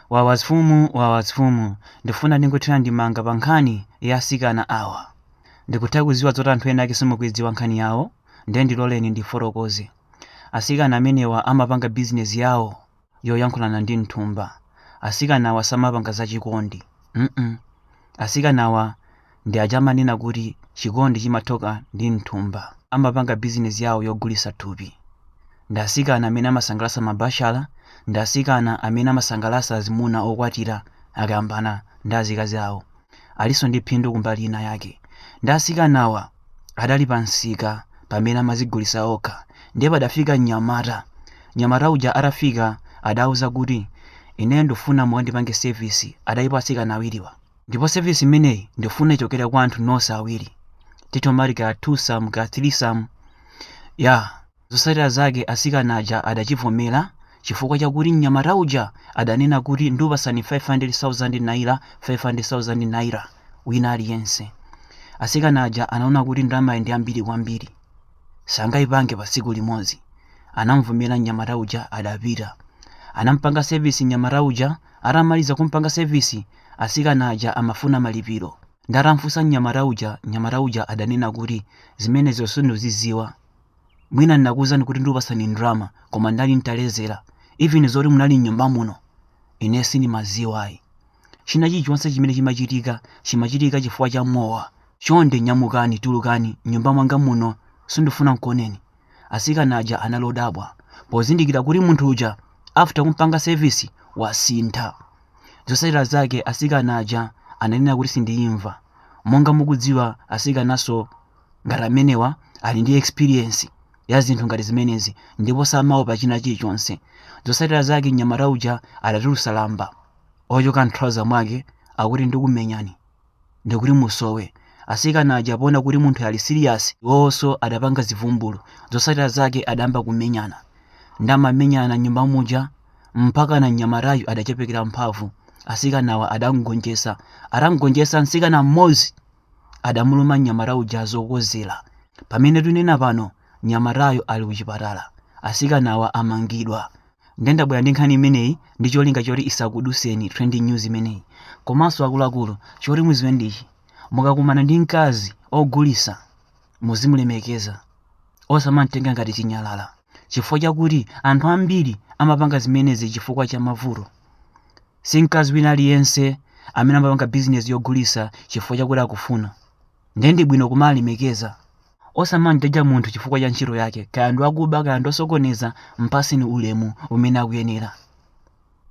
Wawa mfumu wawa mfumu ndifuna ndingothira ndemanga pa nkhani ya asikana awa ndikutha kuziwa zoti anthu ena ake simukuidziwa nkhani yawo nde ndiloleni ndifotokoze asikana amenewa amapanga business yawo yoyankhulana ndi mthumba asikanawa samapanga zachikondi mm asikanawa Ndi aja amanena kuti chikondi chimathoka ndi m'thumba. Amapanga bizinesi yawo yogulitsa thupi. Ndi asikana amene amasangalasa mabachala, ndi asikana amene amasangalasa azimuna okwatira akayambana ndi azikazi awo. Alinso ndi phindu kumbali ina yake. Ndi asikanawa adali pa msika pamene amazigulisa okha. Ndiye padafika mnyamata. Mnyamata uja atafika adawauza kuti, Ine ndifuna mukandipange sevisi. Adalipo asikana awiriwa. Ndipo service imeneyi ndifuna ichokere kwa anthu nonse awiri. Timati ka twosome ka threesome. Ya, zosatira zake asikana aja adachivomera chifukwa chakuti mnyamata uja adanena kuti ndupasani 500,000 naira 500,000 naira wina aliyense. Asikana aja anaona kuti ndalamayi ndi yambiri kwambiri. Sangayipange pa tsiku limodzi. Anamvomera mnyamata uja adapita. Anampanga service mnyamata uja atamaliza kumpanga service Asikana aja amafuna malipiro. Nde atamfunsa mnyamata uja, mnyamata uja adanena kuti zimenezo sinduziziwa. Mwina ndinakuuzani kuti ndikupasani ndrama, koma ndinali ntalezera. Even zoti munali mnyumba muno, ine sindimaziwa ayi. China chilichonse chimene chimachitika, chimachitika chifukwa cha mowa. Chonde nyamukani, tulukani, mnyumba mwanga muno, sindifuna nkuoneni. Asikana aja anali odabwa pozindikira kuti munthu uja after kumpanga service wasintha. Zosatira zake asikana aja ananena kuti sindiyimva. Monga mukudziwa asikananso ngati amenewa ali ndi experience ya zinthu ngati zimenezi ndipo samaopa china chilichonse. Zosatira zake mnyamata uja adatulusa lamba ochoka m'trouser mwake akuti ndikumenyani. ndikuti musowe. Asikana aja poona kuti munthuyu ali serious, iwowoso adapanga zivumbulu. Zosatira zake adayamba kumenyana. Nde amamenyana mnyumba muja mpakana mnyamatayu adachepekera mphamvu. Asikanawa adamgonjesa. Atamgonjesa nsikana m'modzi adamuluma mnyamata uja zokozera. Pamene tunena pano mnyamatayo ali kuchipatala, asikanawa amangidwa. Nde ndabwera ndi nkhani imeneyi ndi cholinga choti isakuduseni trending news imeneyi. Komanso akuluakulu choti muziwe ndichi, mukakumana ndi mkazi ogulisa muzimulemekeza osamamtenga ngati chinyalala chifukwa chakuti anthu ambiri amapanga zimenezi chifukwa cha mavuto. Si mkazi wina aliyense amene amapanga business yogulisa chifukwa chakuti akufuna. Nde ndi bwino kumalemekeza Osamamjaja munthu chifukwa cha ntchito yake, kaya ndi wakuba kaya ndi osokoneza, m'paseni ulemu umene akuyenera.